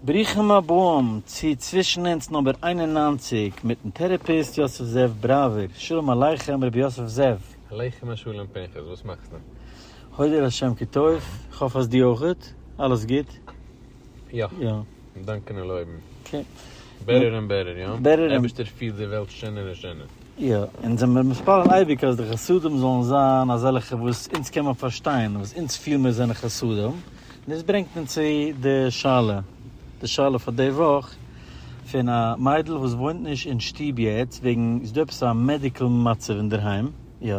ברוכים הבאים צו צווישן אונז נומבער איין און נײַנציק מיטן טערעפיסט יוסף זאב בראווער, שלום עליכם רבי יוסף זאב. עליכם השלום פנחס, וואס מאכסטו? הודו להשם כי טוב, איך האף אז דו אויכעט, אלעס גוט? יא, יא. דאנקען און לויבן. אקעי. בעטער און בעטער, יא? בעטער און. אייבערשטער פירט די וועלט שענער און שענער. יא, אונז זעמיר מתפלל אייביג אז די חסדים זאלן זיין אזעלכע וואס אונז קען מען פארשטיין, וואס אונז פיל מיר זענען חסדים. דאס ברענגט אונז צו די שאלה, די שאלה פאר די וואך, פון א מיידל וואס וואוינט נישט אין שטוב יעצט וועגן איז דא עפעס א מעדיקל מצב אינדערהיים, יא,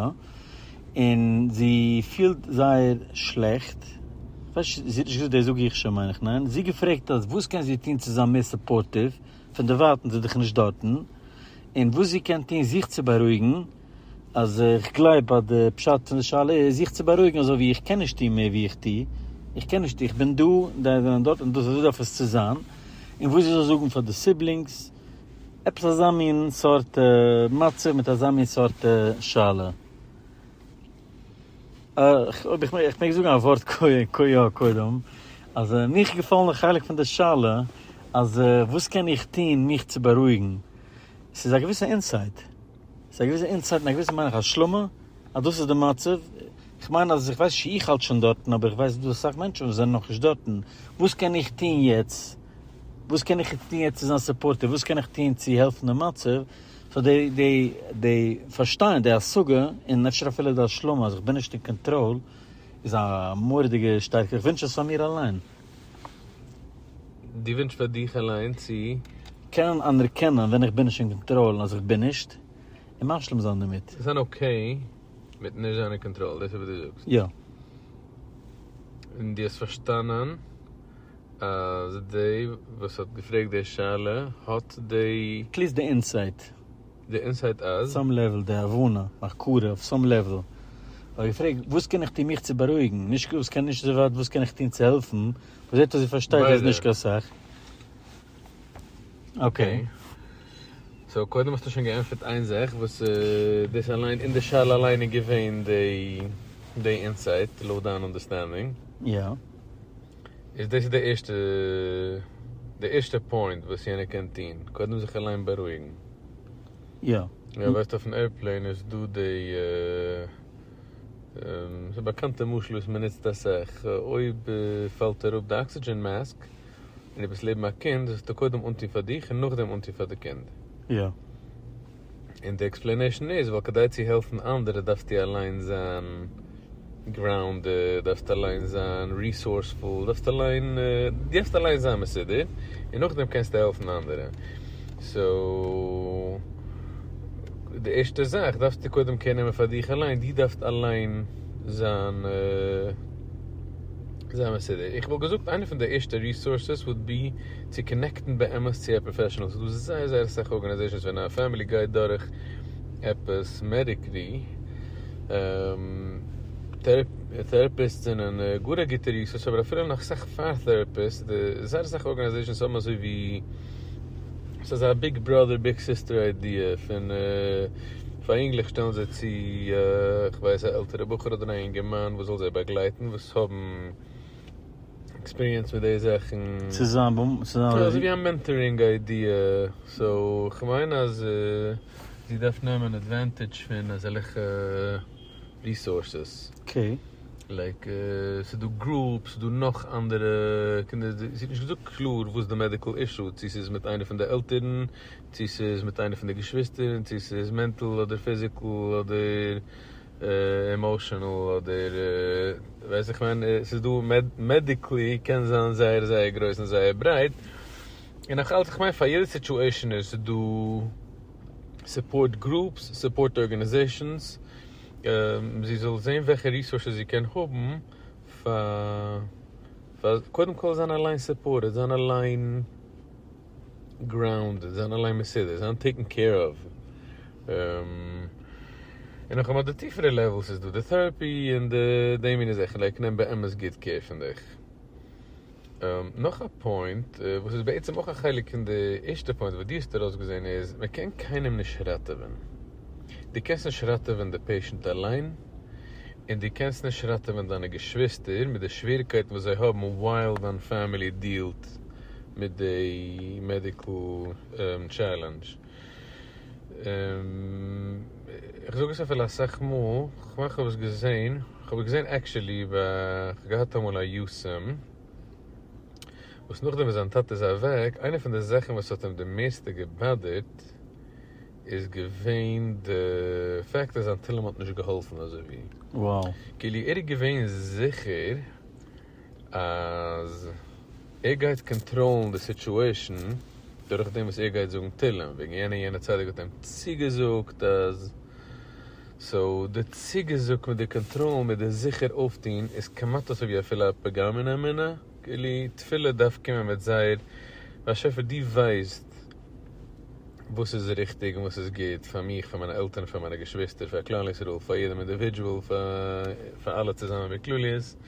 און זי פילט זייער שלעכט, כ'ווייס נישט, זי האט נישט געזאגט דאס זאג איך שוין מיין איך, ניין? זי האט געפרעגט אז וואס קען זי טון צו זיין מער סופארטיוו, פונדערווייטנס איז דאך נישט דארטן, און וואס זי קען טון זיך צו בארואיגן, אז איך גלייב אז די פשט פון די שאלה איז זיך צו בארואיגן אזוי ווי איך קען נישט טון מער ווי איך טו, איך קען נישט טון, איך בין דא און זיי זענען דארט און דאס איז ווי דארף עס צו זיין, און וואס איך זאל זאגן פאר די סיבלינגס, עפעס אזא מין סארט מצב מיט אזא מין סארט שאלה. אויב איך מעג זאגן א ווארט כה י קודם, אז מיך געפאלן די חלק פון די שאלה אז וואס קען איך טון מיך צו בארואיגן, ס'איז א געוויסע אינסייט. ס'איז א געוויסע אינסייט און א געוויסע מיין איך השלמה אז דאס איז די מצב, איך מיין אז איך ווייס נישט צו איך האלט שוין דארטן אבער איך ווייס ס'דא אסאך מענטשן וואס זענען נאכנישט דארטן, וואס קען איך טוהן יעצט? וואס קען איך יעצט טוהן יעצט צו זיין סופארטיוו? וואס קען איך טוהן צו העלפן דעם מצב? סאו די די די פארשטיין די השגה און אפשר אפילו די השלמה אז איך בין נישט אין קאנטראל איז א מורא'דיגע שטארקע, איך ווינטש עס פאר מיר אליין. דו ווינטשט פאר דיך אליין צו. קענען אנערקענען ווען איך בין נישט אין קאנטראל און אז איך בין נישט, און משלים זיין דערמיט. זיין אקעי מיט נישט זיין אין קאנטראל, דאס איז וואס דו זאגסט. יא. און דו האסט פארשטאנען אז דער וואס האט געפרעגט די שאלה האט די. פליז די אינסייט. די אינסייט אז. סאם לעוועל די הבנה, הכרה, אויף סאם לעוועל. האב איך געפרעגט וואס קען איך טון מיך צו בארואיגן, נישט וואס קען נישט אזוי ווייט וואס קען איך טון צו העלפן, מען זעט אז זי פארשטייט אז נישט קיין סאך. אקעי. סאו קודם האסטו שוין געענטפערט איין זאך וואס דאס אליין אין די שאלה אליין איז געווען די אינסייט לויט דיין אנדערסטענדינג. יא. איז דאס איז די ערשטע די ערשטע פוינט וואס יענער קען טוהן, קודם זיך אליין בארואיגן. יא. יא ווייסט אויפן עירפלעין איז דא די ס'איז א באקאנטע משל וואס מ'נוצט אסאך, אויב פאלט אראפ די אקסידזשען מאסק און דו ביסט לעבן א קינד זאלסטו קודם אנטוהן פאר דיך און נאכדעם אנטוהן פאר די קינד. יא. און די עקספלענעישן איז ווייל כדי צו העלפן אנדערע דארפסטו אליין זיין גראונדעד, דארפסט אליין זיין ריסארספול, דארפסט אליין דארפסט אליין זיין מסודר און נאכדעם קענסטו העלפן אנדערע. סאו די ערשטע זאך דארפסטו קודם קעיר נעמען פאר דיך אליין, דו דארפסט אליין זיין זיין מסודר. איך וואלט געזאגט איינע פון די ערשטע ריסארסעס וואלט בי צו קאנעקטן באמת צו א פראפעשענעל, ס'איז דא זייער זייער אסאך ארגאניזעישאנס ווען א פעמילי גייט דורך עפעס מעדיקלי, טערעפיסט זענען גאר א גוטע ריסארס אבער אפילו נאך אסאך פאר טערעפיסט, די זייער אסאך ארגאניזעישאנס האבן אזוי ווי ס'איז אזא ביג בראדער ביג סיסטער איידיע פון פאר אינגלעך שטעלן זיי צו כ'ווייס א עלטערע בחור אדער א אינגערמאן וואס זאל זיי באגלייטן וואס האבן. עקספיריענס מיט די זאכן. צו זיין בו צו זיין רבי. אזויווי א מענטארינג איידיע. סאו כ'מיין אז זי דארף נעמען עדווענטידזש פון אזעלכע ריסארסעס. אקעי. לייק ס'דא גרופס, ס'דא נאך אנדערע קינדער, זי האט נישט געזאגט קלאר וואס די מעדיקל אישו, צו ס'איז מיט איינע פון די עלטערן, צו ס'איז מיט איינע פון די געשוויסטער, צו ס'איז מענטל אדער פיזיקל אדער. עמאושענעל אדער ווייס איך ווען, עס איז דא מעדיקלי קען זיין זייער זייער גרויס און זייער ברייט, און נאך אלץ איך מיין פאר יעדע סיטואשען איז דא סופארט גרופס סופארט ארגענעזעשענס, זי זאל זעהן וועלכע ריסארסעס זי קען האבן פאר פאר קודם כל זיין אליין סופארטעד זיין אליין. גראונד און זיין אליין מסודר זיין טעיקן קעיר אוו און נאך אמאל די טיפערע לעוועלס איז דא די טעראפי און די די מיני זאכן לייק נעם באמת גוט קעיר פון דיך. נאך א פוינט וואס איז בעצם אויך א חלק פון די ערשטע פוינט וואס דו האסט ארויסגעזעהן איז מען קען קיינעם נישט ראטעווען דו קענסט נישט ראטעווען די פעישענט אליין און דו קענסט נישט ראטעווען דיינע געשוויסטער מיט די שוועריקייטן וואס זיי האבן ווייל דיין פעמילי דיעלט מיט די מעדיקל טשעלענדזש, איך זאג עס אפילו אסאך מאל, כ'מיין כ'האב עס געזען, כ'האב עס געזען עקשעלי ב כ'האב געהאט אמאל א יו ס ם, וואס נאכדעם וואס זיין טאטע איז אוועק, איינע פון די זאכן וואס האט אים די מערסטע געבאדערט איז געווען די פעקט אז זיין תהלים האט נישט געהאלפן אזויווי, כאילו ער איז געווען זיכער אז ער גייט קאנטראלן די סיטואשען דורך דעם וואס ער גייט זאגן תהלים וועגן יענע און יענע צדיק האט אים צוגעזאגט אז. סאו די צוגעזאג מיט די קאנטראלן מיט די זיכער אויפטוהן איז כמעט אזוי ווי אפילו א פגם אין אמונה, כאילו תפילה דארף קומען מיט זייער באשעפער דו ווייסט וואס איז ריכטיג און וואס איז גוט פאר מיך פאר מיינע עלטערן פאר מיינע געשוויסטער פאר כלל ישראל פאר יעדעם אינדיווידזשועל פאר אלע צוזאמען בכלליות.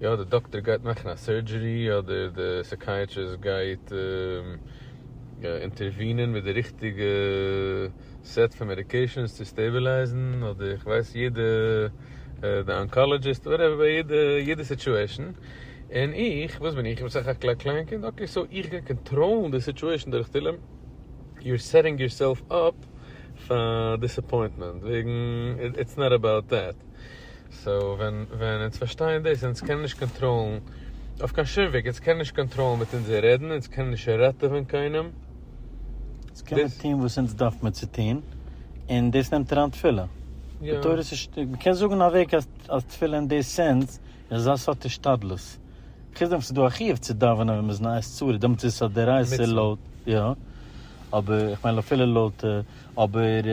יא די דאקטער גייט מאכן א סורדזשערי אדער די סעקייעטריסט גייט אינטערווינען מיט די ריכטיגע סעט פון מעדיקעישאנס צו סטעבילייזן אדער איך ווייס יעדע די אנקאלעדזשיסט וואטעווער יעדע יעדע סיטועשאן און איך וואס בין איך איך בין סך הכל א קליין קינד אקעי סאו איך גיי קאנטראלן די סיטועשאן דורך תהלים יו אר סעטינג יור סעלף אפ פאר דיסעפוינטמענט וועגן איטס נאט אבאוט דעט. סאו ווען ווען אונז פארשטייען דאס אונז קענען נישט קאנטראלן אויף קיין שום וועג, אונז קענען נישט קאנטראלן מיט אונזער רעדן, אונז קענען נישט ראטעווען קיינעם. אונז קען מיר טון וואס אונז דארף מיר צו טון, און דאס נעמט אריין תפילה. די תורה איז נישט, מען קען זאגן א וועג אז אז תפילה אין די סענס איז א סארט השתדלות. חוץ דעם וואס ס'איז דא א חיוב צו דאווענען ווען מ'איז אין א עת צרה, דעמאלטס איז עס א דאורייתא לויט יא, אבער איך מיין אפילו לויט אבער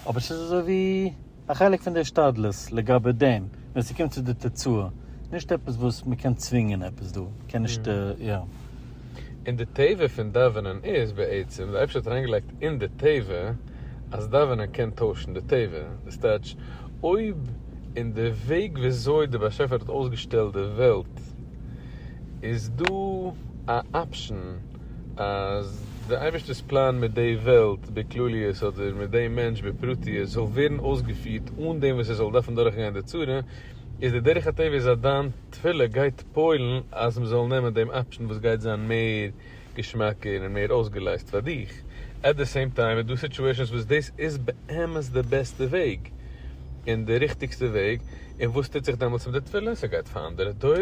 אבער ס'איז אזוי ווי. א חלק פון די השתדלות לגבי דעם ווען ס'קומט צו די תוצאה, נישט עפעס וואס מ'קען צווינגען עפעס דא, מ'קען נישט יא. און די טבע פון דאווענען איז בעצם, די אייבערשטער האט אריינגעלייגט אין די טבע אז דאווענען קען טוישן די טבע, דאס טייטש אויב אין די וועג וויאזוי די באשעפער האט אויסגעשטעלט די וועלט איז דא א אפשן, אז דער אייבערשטער'ס פלאן מיט די וועלט בכלליות אדער מיט די מענטש בפרטיות זאל ווערן אויסגעפירט אן דעם וואס ער זאל דארפן דורכגיין די צרה, איז די דרך הטבע איז אז דיין תפילה גייט פועל'ן אז מ'זאל נעמען דעם אפשן וואס גייט זיין מער געשמאקער און מער אויסגעלייזט פאר דיך. עט די סעים טיים איז דא סיטואשענס וואס דאס איז באמת די בעסטע וועג און די ריכטיגסטע וועג, און וואס טוט זיך דעמאלטס מיט די תפילה? ס'גייט פאר אנדערע דורות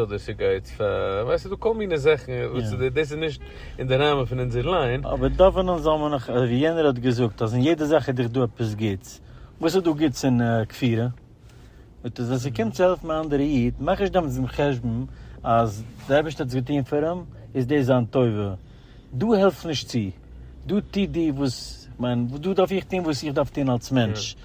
אדער ס'גייט פאר, ווייסט ס'איז דא כל מיני זאכן וואס איז, דאס איז נישט אין די ראמען פון אונזער ליין. אבער דאווענען זאל מען נאך, ווי יענער האט געזאגט אז אין יעדע זאך איז דאך דא עפעס גוטס, וואס איז דא גוטס אין כפירה? מיט אז ווען ס'קומט צו העלפן א אנדערע איד, מאך נישט דעמאלטס דעם חשבון אז דער אייבערשטער האט עס געטון פאר אים, איז דאס זיין טובה, דא העלף נישט צו, דא טו דו וואס, כ'מיין דא דארף איך טון וואס איך דארף טון אלס מענטש.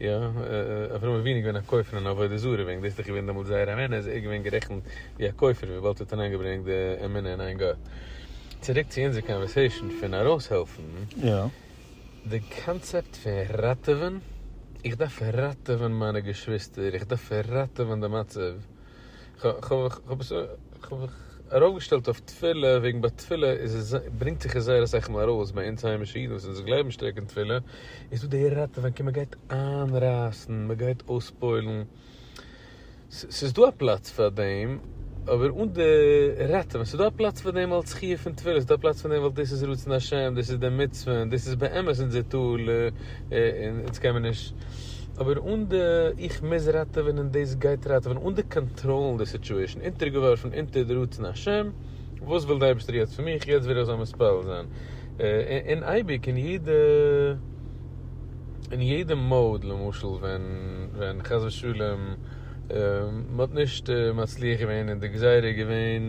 יא, אברהם אבינו איז געווען א כופר אין עבודה זרה, וועגן דאס איז דאך געווען דעמאלט זייער אמונה, איז ער געווען גערעכנט ווי א כופר וויבאלד ער האט אריינגעברענגט די אמונה אין איין גאט. צוריק צו אונזער קאנווערסעישאן פון ארויסהעלפן. די קאנצעפט פון ראטעווען, איך דארף ראטעווען מיינע געשוויסטער, איך דארף ראטעווען די מצב, כ'האב זיך ארויפגעשטעלט אויף תפילה וועגן ביי תפילה איז עס ברענגט זיך עס זייער אסאך מאל ארויס ביי אונז היימישע אידן וואס אונז גלייבן שטארק אין תפילה איז דא די ראטעווענקען מען גייט איינרייסן מען גייט אויספוילן ס'איז דא א פלאץ פאר דעם אבער אן די ראטעווען ס'איז דא א פלאץ פאר דעם אלץ חיוב פון תפילה ס'איז דא א פלאץ פאר דעם ווייל דאס איז רצון השם דאס איז די מצוה און דאס איז באמת אונזער טל. און אונז קען מען נישט, אבער אן די איך מוז ראטעווען און דאס גייט ראטעווען, אן די קאנטראלן די סיטואשען, אונטערגעווארפן אונטער די רצון השם, וואס וויל די אייבערשטער יעצט פון מיך, יעצט וויל איך זאל מתפלל זיין, און אייביג אין יעדע אין יעדע mode, למשל ווען ווען חס ושלום מען האט נישט מצליח געווען און די גזירה איז געווען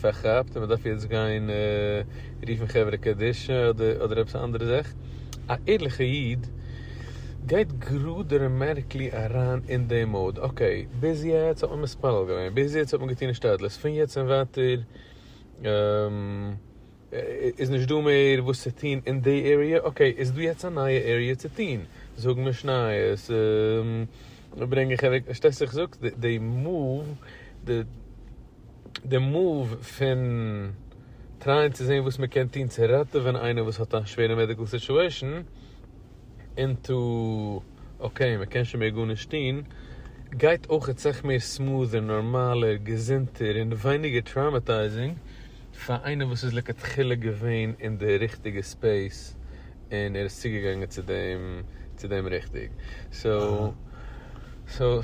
פארכאפט און מען דארף יעצט גיין. רופן חברה קדישא אדער עפעס א אנדערע זאך, א ערליכע איד גייט גראדע רעמערקלי אריין אין די מאוד, אקעי ביז יעצט האט מען מתפלל געווען, ביז יעצט האט מען געטון השתדלות, פון יעצט און ווייטער איז נישט דא מער וואס צו טון אין די עריע, אקעי איז דא יעצט א נייע עריע צו טון, זאגן משניות, ברענגען חברה, פארשטייסטו וואס איך זאג, די מאוו, די. די מאוו פון טרייען צו זעהן וואס מען קען טון צו ראטעווען איינער וואס האט א שווערע מעדיקל סיטועשען אינטו אקעי מען קען שוין מער גארנישט טון גייט אויך סך מער סמאדער נארמאלער געזונטער און ווייניגער טראמעטייזינג פאר איינער וואס איז לכתחילה געווען אין די ריכטיגע ספעיס און ער איז צוגעגאנגען צו דעם צו דעם ריכטיג, סאו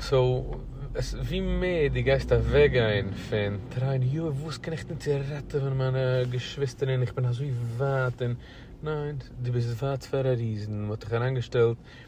סאו ווי מער דו גייסט אוועקגיין פון טרייען יו וואס קען איך טון צו ראטעווען מיינע געשוויסטער און איך בין אזוי ווייט און ניין דו ביסט ווייט פאר א ריזען מען האט דיך אריינגעשטעלט,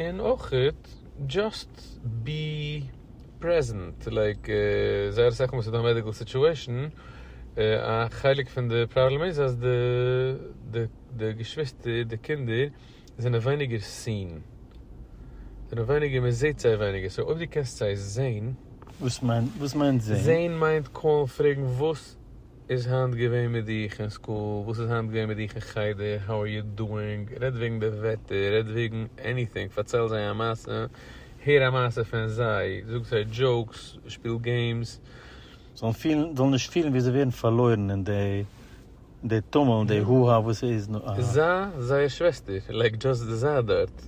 און אויך דזשאסט בי פרעזענט, לייק זייער אסאך מאל איז דא א מעדיקל סיטועשן, א חלק פון די פראבלעם איז אז די געשוויסטער, די קינדער זענען ווייניגער סין, זענען ווייניגער מען זעהט זיי ווייניגער, סאו אויב די קענסט זיי זעהן. וואס מיינט זעהן? זעהן מיינט קאלן פרעגן וואס. איז היינט געווען מיט דיך אין סקול? וואס איז היינט געווען מיט דיך אין חדר? האו אר יו דואינג? רעד וועגן די וועטער, רעד וועגן עניטינג, פארצייל זיי א מעשה, הער א מעשה פון זיי, זאג זיי דזשאוקס, שפיל געימס. זאלן פילן, זאלן נישט פילן ווי זיי ווערן פארלוירן אין די טומל און די הו הא וואס ס'איז נאר א. זיי, זייער שוועסטער, לייק דזשאסט זיי דארט,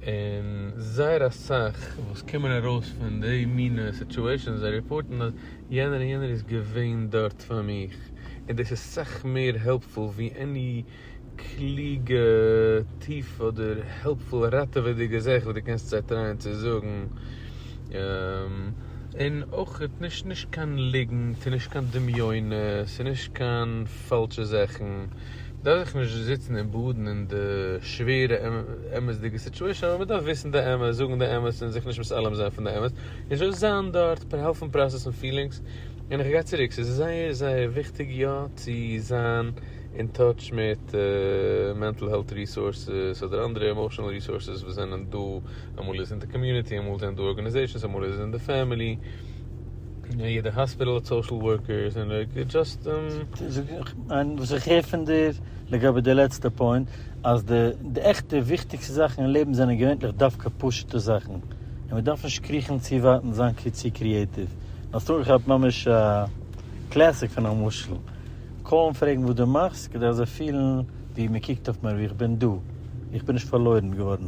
און זייער אסאך וואס קומען ארויס פון די מינע סיטועשאנס זיי רעפארטן אז. יענער און יענער איז געווען דארט פאר מיך, און דאס איז סאך מער העלפפול ווי עני קלוגע טיף אדער העלפפול ראטעוועדיגע זאך וואס דו קענסט זיי טרייען צו זאגן, און אויך נישט נישט קיין ליגנט און נישט קיין דמיונות און נישט קיין פאלשע זאכן, מען דארף זיך נישט זיצן און באדן אין די שווערע אמת'דיגע סיטואשען, אבער מען דארף וויסן די אמת, זאגן די אמת און זיך נישט מתעלם זיין פון די אמת. איך וועל זיין דארט פאר העלפן פראסעסן פילינגס, און איך גיי צוריק, ס'איז זייער זייער וויכטיג יא צו זיין אין טאטש מיט מענטל העלט ריסארסעס אדער אנדערע עמאושענעל ריסארסעס וואס זענען דא, אמאל איז אין די קאמיוניטי, אמאל זענען דא ארגאניזעישאנס, אמאל איז אין די פעמילי, יעדע האספיטאל האט סאושעל ווארקערס, און זאגן. וואס איך הער פון דיר לגבי די לעצטע פוינט אז די עכטע וויכטיגסטע זאכן אין לעבן זענען געווענליך דווקא פשוט'ע זאכן. און מען דארף נישט קריכן צו ווייט און זיין צו קריעטיוו. און האסט אנגעכאפט ממש א קלעסיק פון א משל. קוים פרעגן וואס דו מאכסט כדי אז זיי פילן ווי מען קוקט אויף מיר ווי איך בין דא. איך בין נישט פארלוירן געווארן.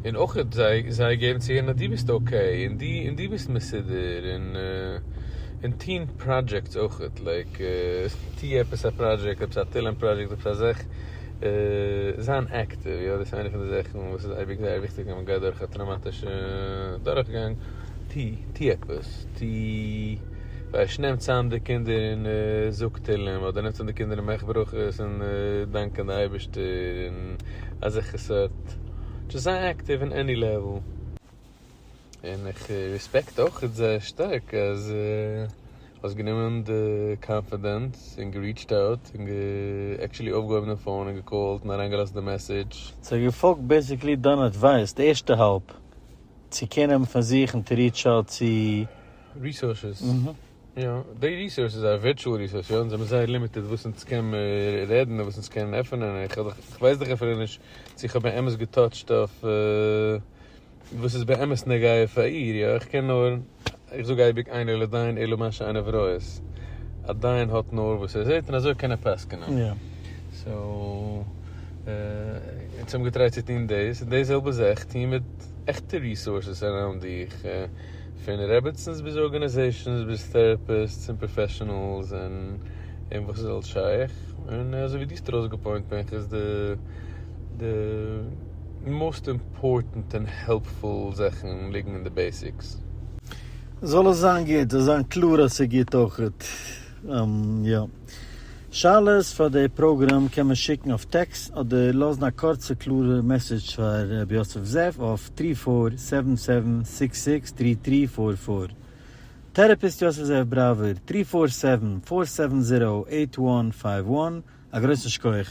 און אויך זיי געבן צו הערן אז דו ביסט אקעי און דו און דו ביסט מסודר און און טוהן פראדזשעקטס אויך לייק טוה עפעס א פראדזשעקט עפעס א תהלים פראדזשעקט עפעס א זעך. זיין עקטיוו, יא, דאס איז איינע פון די זאכן וואס איז אייביג זייער וויכטיג ווען מען גייט דורך א טראומאטישע דורכגאנג, טו, טו עפעס, טו, ווייש, נעם צאם די קינדער און זאג תהלים, אדער נעם צאם די קינדער און מאך ברכות און דאנק און די אייבערשטער און אזעלכע סארט, דזשאסט זיי עקטיוו אין עני לעוועל. און איך ריספעקט אויך זייער שטארק אז האסט גענומען די קאנפידענס און געריעטשט אוט און עקטשעלי אויפגעהויבן די פאון און געקאלט און אריינגעלאזט די מעסעדזש. זיי געפאלגט בעסיקלי דיין אדווייס די ערשטע האלב צו קעיר נעמען פון זיך און טו ריעטש אוט צו. ריסארסעס, יא די ריסארס איז א ווירטואל ריסארס יא אונז האבן זייער לימיטעד וואס אונז קען רעדן און וואס אונז קענען עפענען און איך ווייס דאך אפילו נישט צו איך האב באמת געטאטשט אויף. וואס איז באמת נוגע פאר איר? יא, איך קען נאר, איך זאג אייביג אינו לדיין אלא מה שעיניו רואות, א דיין האט נאר וואס ער זעט און אזוי קען ער פסק'נען, סאו אונז האבן געטרייט צו טון דאס, און די זעלבע זאך טוהן מיט עכטע ריסארסעס אראונד דיך, פון רעבעצינס ביז ארגאניזעישאנס ביז טעראפיסטס און פראפעשענעלס און וואס איז אלס שייך, און אזוי ווי דו האסט ארויסגעפוינט בין איך איז די. די מאסט אימפארטענט און העלפפול זאכן ליגן אין די בעסיקס. זאל עס זיין גוט, זאל זיין קלאר אז ס'איז גוט אויכעט. און יא. שאלות פאר די פראגראם קען מען שיקן אויף טעקס אדער לאזן א קורצע קלארע מעסעדזש פאר ר' יוסף זאב אויף טרי פאר סעווען סעווען סיקס סיקס טרי טרי פאר פאר. טערעפיסט יוסף זאב בראווער, טרי פאר סעווען פאר סעווען זירא עיט וואן פייוו וואן. א גרויסן שכח.